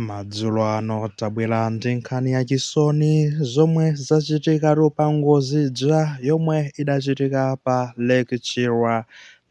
Madzulo ano tabwera ndi nkhani ya chisoni zomwe zachitikatu pa ngozi ija yomwe idachitika pa Lake Chilwa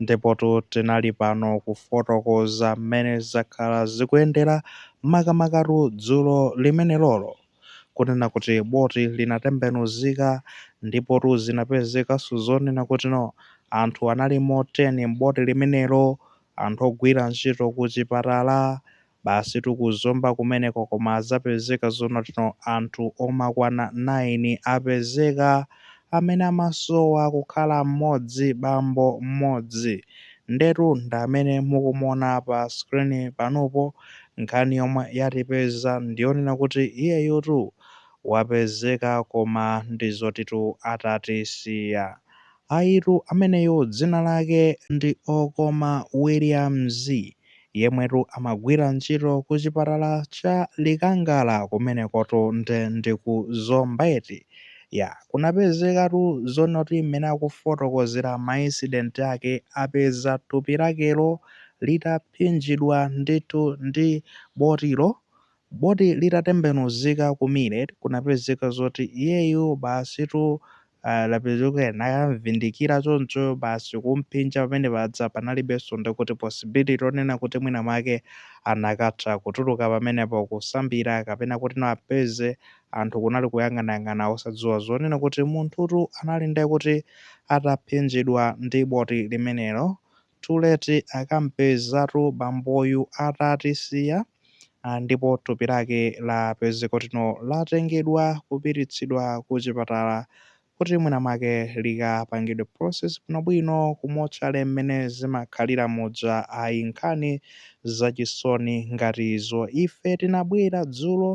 ndipotu tinali pano kufotokoza mmene zakhala zikuyendera makamakatu dzulo limenelolo kunena kuti boti lidatembenuzika ndipotu zinapezekanso zonena kuti no anthu analimo 10 m'boti limenelo anthu ogwira ntchito kuchipatala basitu ku Zomba kumeneko koma zapezeka zoti no anthu omakwana 9 apezeka amene amasowa kukhala mmodzi bambo mmodzi ndetu ndamene mukumuona pa screen panupo nkhani yomwe yatipeza ndiyonena kuti iyeyutu wapezeka koma ndi zotitu atatisiya Ayitu ameneyo dzina lake ndi Okoma Williams yemwetu amagwira ntchito ku chipatala cha Likangala kumenekotu nde ndi ku Zomba eti? Ya, kunapezekatu zonoti mmene akufotokozera ma incident ake apeza thupi lakelo litaphinjidwa ndithu ndi botilo Boti litatembenuzika ku Millet kunapezeka zoti iyeyu basitu ah, lapezeka kuti anamvindikira choncho basi kumphinja pamene paja panalibenso ndi kuti possibility yonena kuti mwina mwake anakatha kutuluka pamenepo kusambira kapena kuti no apeze anthu kunali kuyang'anayang'ana osadziwa zonena kuti munthutu anali ndekuti ataphinjidwa ndi boti limenelo Too late akampezatu bamboyu atatisiya ndipo thupi lake lapezeka kuti no latengedwa kupititsidwa kuchipatala kuti mwina mwake likapangidwe process bwinobwino ku motchale mmene zimakhalira muja ayi nkhani zachisoni ngati izo ife tinabwera dzulo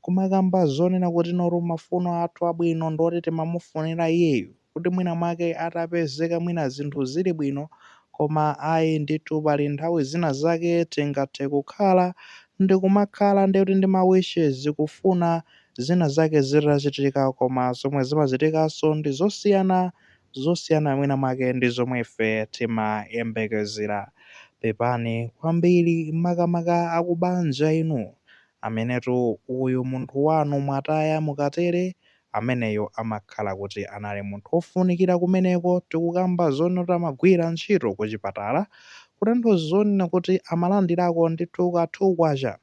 kumakamba zonena kuti notu mafuno athu abwino ndi oti timamufunira iyeyu kuti mwina mwake atapezeka mwina zinthu zili bwino koma ayi ndithu pali nthawi zina zake tingathe kukhala ndikumakhala ndiye kuti ndi ma wishes kufuna zina zake zitachitika koma zomwe zimachitikanso ndi zosiyana zosiyana mwina mwake ndi zomwe ife timayembekezera pepani kwambiri makamaka akubanja inu amenetu uyu munthu wanu mwataya mukatere Ameneyo amakhala kuti anali munthu ofunikira kumeneko tikukamba zonena kuti amagwira ntchito kuchipatala kutanthauza zonena kuti amalandirako ndithu ka thu kwacha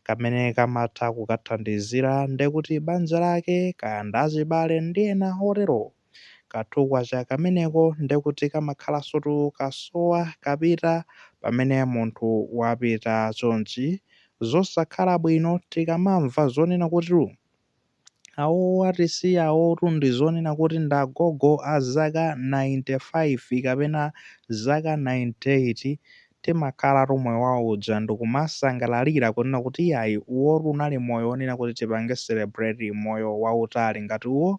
kamene kamatha kukathandizira ndekuti banja lake kaya ndi achibale ndi ena oterowo ka thu kwacha kameneko ndekuti kamakhalansotu kasowa kapita pamene munthu wapita chonchi zosakhala bwino tikamamva zonena kuti awowo atisiyawotu ndi onena kuti ndi agogo a zaka 95 kapena zaka 98 timakhalatu moyo wawo uja ndikumasangalalira kunena kuti iyayi uwotu unali moyo wonena kuti tipange celebrate moyo wautali ngati uwo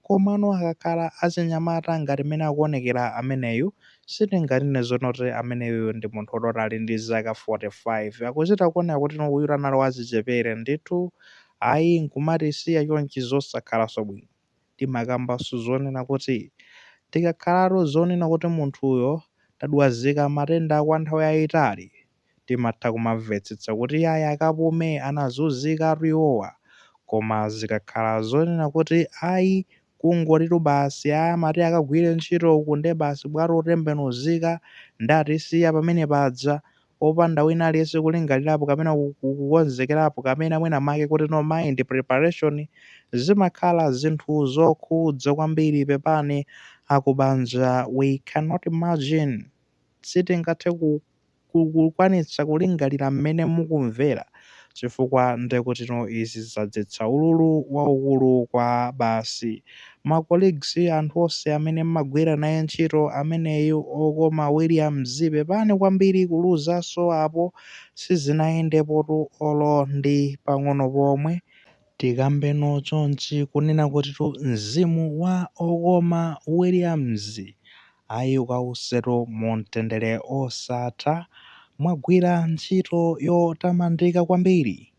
Komano akakhala achinyamata ngati mmene akuonekera ameneyu, sitinganene zonena kuti ameneyuyu ndi munthu woti ali ndi zaka 45. Akuchita kuoneka kuti uyutu anali wachichepere ndithu. Ayi, n'kumatisiya chonchi n'zosakhalanso bwino. Timakambanso zonena kuti, Tikakhalatu zonena kuti munthuyo tadwazika matenda kwa nthawi yaitali, timatha kumamvetsetsa kuti yayi akapume anazunzikatu iwowa koma zikakhala zonena kuti ayi kungotitu basi ayi amati akagwire ntchito uku nde basi bwato lotembenuzika nde atisiya pamenepaja opanda wina aliyense kulingalirapo kapena kukonzekerapo kapena mwina make kuti the mind preparation zimakhala zinthu zokhudza kwambiri pepani akubanja we cannot imagine sitingathe ku kukwanitsa kulingalira mmene mukumvera, chifukwa ndekutino izi zadzetsa ululu waukulu kwa basi. Ma colleagues anthu onse amene mmagwira naye ntchito ameneyu okoma Williams pepani kwambiri kuluzanso apo sizinayendepotu olo ndi pang'ono pomwe. Tikambeno chonchi kunena kutitu mzimu wa okoma Williams ayi ukausetu mumtendere osatha, mwagwira ntchito yotamandika kwambiri,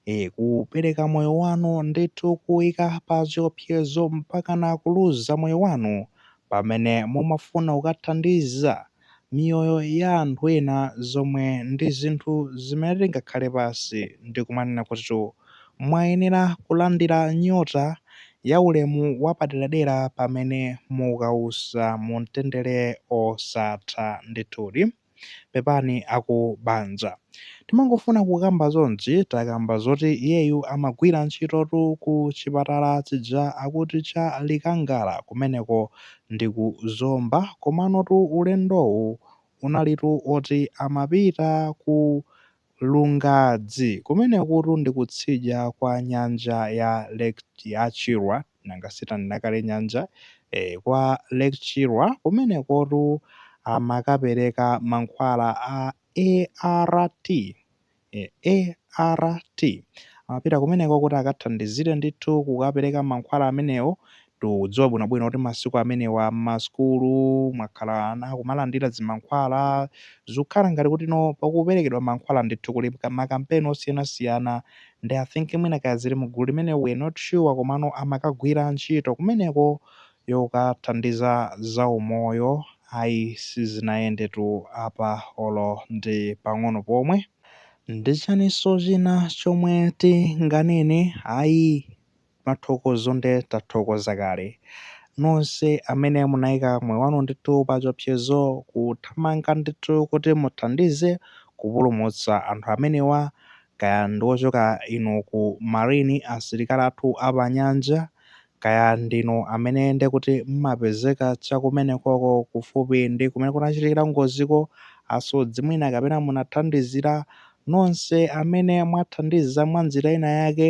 ee kupereka moyo wanu ndithu kuuika pachiopsezo mpakana kuluza moyo wanu pamene mumafuna kukathandiza miyoyo ya anthu ena zomwe ndi zinthu zimene tingakhale pansi ndi kumanena kutitu mwayenera kulandira nyota ya ulemu wapaderadera pamene mukausa mu mtendere osatha. Ndithudi pepani aku banja. Timangofuna kukamba zonzi takamba zoti iyeyu amagwira ntchitotu ku chipatala chija akuti cha Likangala kumeneko ndi ku Zomba komanotu ulendowu unalitu oti amapita ku Lungazi kumenekutu ndi kutsidya kwa nyanja ya ya Chilwa nanga si tanena kale nyanja ee kwa Lake Chilwa kumenekotu amakapereka mankhwala a ART e a r t amapita kumeneko kuti akathandizire ndithu kukapereka mankhwala amenewo tikudziwa bwinobwino kuti masiku amenewa m'masukulu mwakhala ana akumalandira zimankhwala zikukhala ngati kuti no pakuperekedwa mankhwala ndithu kuti makampeni osiyanasiyana nde I think mwina kaya zili mu gulu limene we not sure komano amakagwira ntchito kumeneko yokathandiza zaumoyo ayi sizinayendetu apa olo ndi pang'ono pomwe. Ndi chiyaninso china chomwe tinganene ayi kuthokoza nde tathokoza kale nonse amene munaika moyo wanu ndithu pachiopsezo kuthamanga ndithu kuti muthandize kupulumutsa anthu amenewa kaya ndiochoka inu ku marine asilikali athu apanyanja Kaya ndinu amene ndekuti mmapezeka chakumenekoko kufupi ndi kumene kunachitikira ngoziko, asodzi mwina kapena munathandizira, nonse amene mwathandiza mwanjira ina yake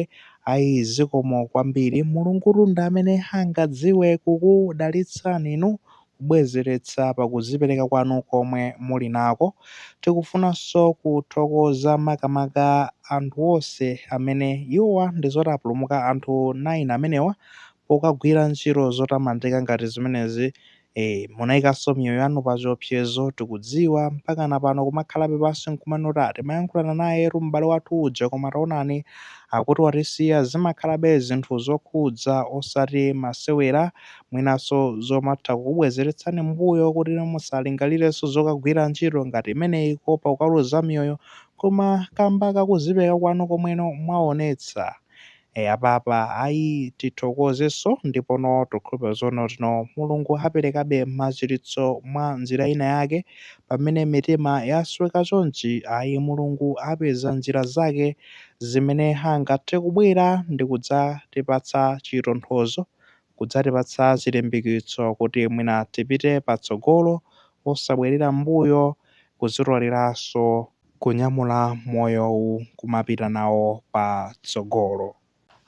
ayi zikomo kwambiri. Mulungutu ndi amene angadziwe kukudalitsani inu kubwezeretsa pa kuzipereka kwanu komwe muli nako. Tikufunanso kuthokoza makamaka anthu onse amene, iwowa ndi zoti apulumuka anthu 9 amenewa pokagwira ntchito zotamandika ngati zimenezi. E, munaikanso miyoyo yanu pa chiopsezo, tikudziwa, mpakana pano kumakhalabe pansi n'kumanena kuti, ah, timayankhulana nayetu m'bale wathu uja koma taonani akuti watisiya. Zimakhalabe zinthu zokhudza osati masewera. mwinanso zomatha kukubwezeretsani m'mbuyo kuti musalingalirenso zokagwira ntchito ngati imeneyi kuopa ukaluza miyoyo koma kamba ka kuzipereka kwanu komwe inu mwaonetsa e, apapa ayi tithokozenso ndipono tikukhulupira zonoti no Mulungu aperekabe machiritso mwa njira ina yake pamene mitima yasweka chonchi ayi Mulungu apeza njira zake zimene angathe kubwera ndikudzatipatsa chitonthozo kudzatipatsa chilimbikitso kuti mwina tipite patsogolo osabwerera m'mbuyo, kudzitoleranso kunyamula moyowu kumapita nawo patsogolo.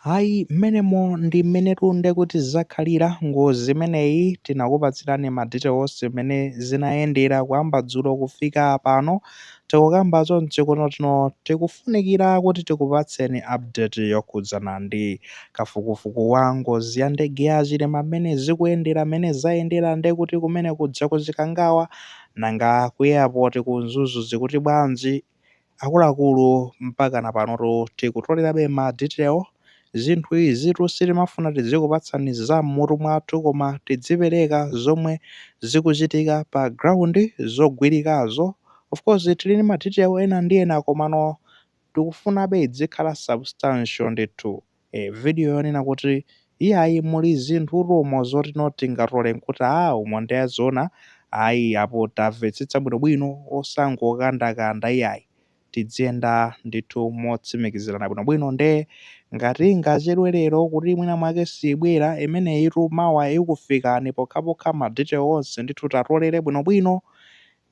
Ayi mmenemo ndi mmenetu nde kuti zakhalira, ngozi imeneyi tinakupatsirani ma details mmene zinayendera kuyamba dzulo kufika pano, tikukamba chonchi kunokuno tikufunikira kuti tikupatseni update yokhudzana ndi kafukufuku wa ngozi ya ndege ya Chilima mmene zikuyendera mmene zayendera nde kuti kumene kuja ku Chikangawa nanga ku airport ku Mzuzu zikuti bwanji akuluakulu mpaka na panotu tikutolerabe ma detail Zinthu izitu sitimafuna tizikupatsani za m'mutu mwathu koma tizipereka zomwe zikuchitika pa ground zogwirikazo. Of course tili ndi ma detail ena ndi ena komano tikufunabe izikhala substantial ndithu. Eh, video yonena kuti iyayi muli zinthutu umo zoti ndi zoti tingatole n'kuti aah umo nde zoona ayi apo tavetsetsa bwinobwino osangokandakanda iyayi. tidziyenda ndithu motsimikizirana bwinobwino nde ngati ingachedwe lero kuti mwina mwake siibwera imeneyitu mawa ikufikani pokhapokha ma detail onse ndithu tatolera bwinobwino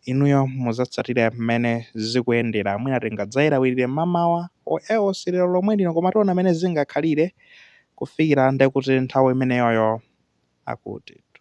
inuyo muzatsatire mmene zikuyendera mwina tingadzayilawirire mmamawa or else lero lomwe lino koma tiona mmene zingakhalire kufikira ndekuti nthawi imeneyoyo akutitu.